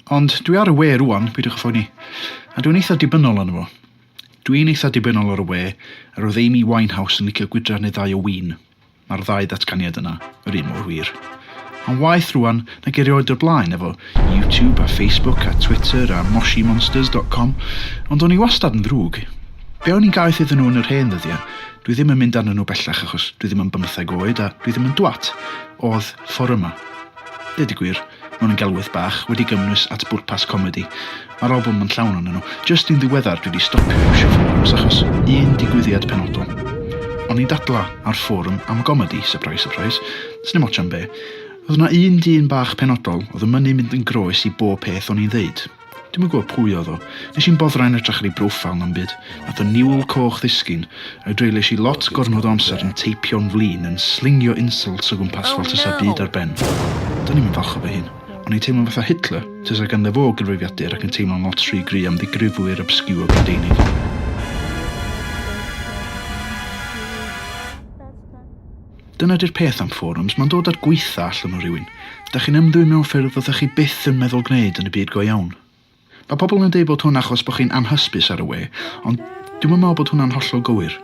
Ond dwi ar y we rŵan, peidiwch â phoeni. A dwi'n eitha dibynnol arno fo. Dwi'n eitha dibynnol ar y we, a roedd Amy Winehouse yn licio gwydra neu ddau o win. Mae'r ddau ddatganiad yna yr un mor wir. Mae'n waeth rŵan nag erioed o'r blaen efo YouTube a Facebook a Twitter a MoshiMonsters dot com, ond o'n i wastad yn ddrwg. Be o'n i'n gaeth iddyn nhw yn yr hen ddyddiau? Dwi ddim yn mynd arnyn nhw bellach achos dwi ddim yn bymtheg oed a dwi ddim yn dwat. Oedd fforymau. Deud y gwir. mewn yn gelwydd bach, wedi gymwys at bwrpas comedi. Mae'r albwm yn llawn onyn nhw. Jyst yn ddiweddar dwi 'di stopio iwsio fforums achos un digwyddiad penodol. O'n i'n dadla ar fforwm am gomedi, surprise surprise, sdim ots am be, o'dd 'na un dyn bach penodol o'dd yn mynnu mynd yn groes i bob peth o'n i'n ddeud. Dwi'm yn gwybod pwy oedd o. Nes i'm boddran yn edrych ar ei broffil na'm byd. Nath y niwl coch ddisgyn, a'i dreulies i lot gormod o amser yn teipio'n flin yn slingio insults o gwmpas fel tasa byd ar ben. Do'n i'm yn falch o fy hun. O'n i'n teimlo'n fatha Hitler, tasa ganddo fo gyfrifiadur ac yn teimlo'n lot rhy gry' am ddigrifwyr obscure Brydeinig. Dyna di'r peth am fforums, ma'n dod â'r gwaetha allan o rywun. Dach chi'n ymddwyn mewn ffyrdd fyddech chi byth yn meddwl gwneud yn y byd go iawn. Mae pobl yn deud bod hwn achos bod chi'n anhysbys ar y we, ond dwi'm yn meddwl bod hwnna'n hollol gywir.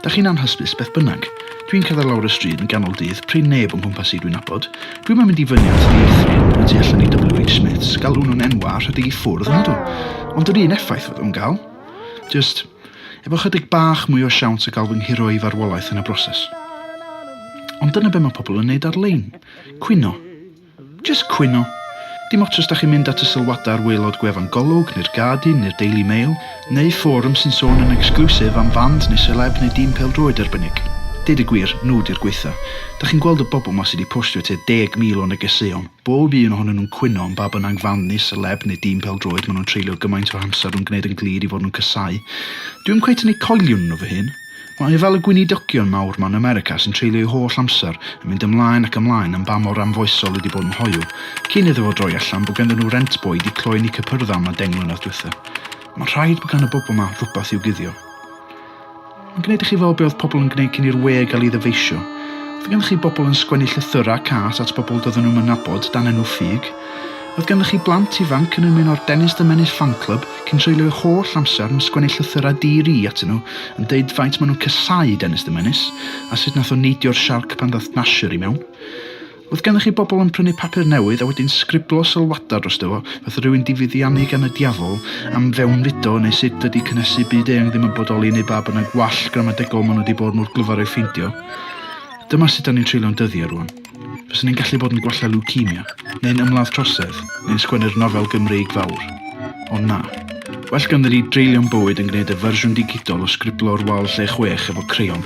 Dach chi'n anhysbys beth bynnag. Dwi'n cerdded lawr y stryd yn ganol dydd, prin neb o'n nghwmpas i dwi'n nabod. Dwi'm yn mynd i fyny at dieithryn y tu allan i WH Smiths, galw nhw'n enwau a rhedeg i ffwrdd, nadw. Ond yr un effaith fydd o'n gael. Jyst efo chydig bach mwy o siawns o gael fy nghuro i farwolaeth yn y broses. Ond dyna be mae pobl yn neud ar-lein. Cwyno. Jyst cwyno. Dim ots os da chi'n mynd at y sylwadau ar waelod gwefan Golwg, neu'r Guardian, neu'r Daily Mail, neu fforwm sy'n sôn yn exclusive am fand neu seleb neu dîm pêl-droed arbennig. Deud y gwir, nhw di'r gwaetha. Da chi'n gweld y bobl ma sy di postio tua deg mil o negeseuon. Bob un ohonyn nhw'n cwyno am ba bynnag fanddu, seleb neu dîm pêl-droed maen nhw'n treulio gymaint o amser yn gwneud yn glir i fod nhw'n casáu. Dwi ddim cweit yn eu coelion nhw fy hun. Mae e fel y gweinidogion mawr 'ma yn America sy'n treulio eu holl amser yn mynd ymlaen ac ymlaen am ba mor anfoesol ydi bod yn hoyw, cyn iddo fo droi allan bod ganddyn nhw rent boi 'di cloi yn eu cypyrdda am y deng mlynedd dwytha. Mae'n rhaid bod gan y bobl 'ma rwbath i'w guddio. Mae'n gwneud i chi feddwl be oedd pobl yn gwneud cyn i'r we gael ei ddyfeisio. Oedd gennych chi bobl yn sgwennu llythyrau cas at bobl doedden nhw'm yn nabod dan enw ffug. Oedd gennych chi blant ifanc yn ymuno'r Dennis the Menace Fan Club cyn treulio eu holl amser yn sgwennu llythyrau di-ri atyn nhw yn deud faint maen nhw'n casáu Dennis the Menace a sut nath o neidio'r siarc pan ddath Nasher i mewn. Oedd gennych chi bobl yn prynu papur newydd a wedyn sgriblo sylwadau drosto fo, fatha rhywun 'di fuddiannu gan y diafol am fewnfudo neu sut dydi cynhesu byd eang ddim yn bodoli neu ba bynnag wall gramadegol maen nhw 'di bod mor glyfar ei ffeindio? Dyma sut 'da ni'n treulio'n dyddiau rŵan. Fyswn i'n gallu bod yn gwella lwcemia, neu'n ymladd trosedd, neu'n sgwennu'r nofel Gymreig fawr. Ond na. Well ganddi ni dreulio'n bywyd yn gwneud y fersiwn digidol o sgriblo'r wal lle chwech efo creion.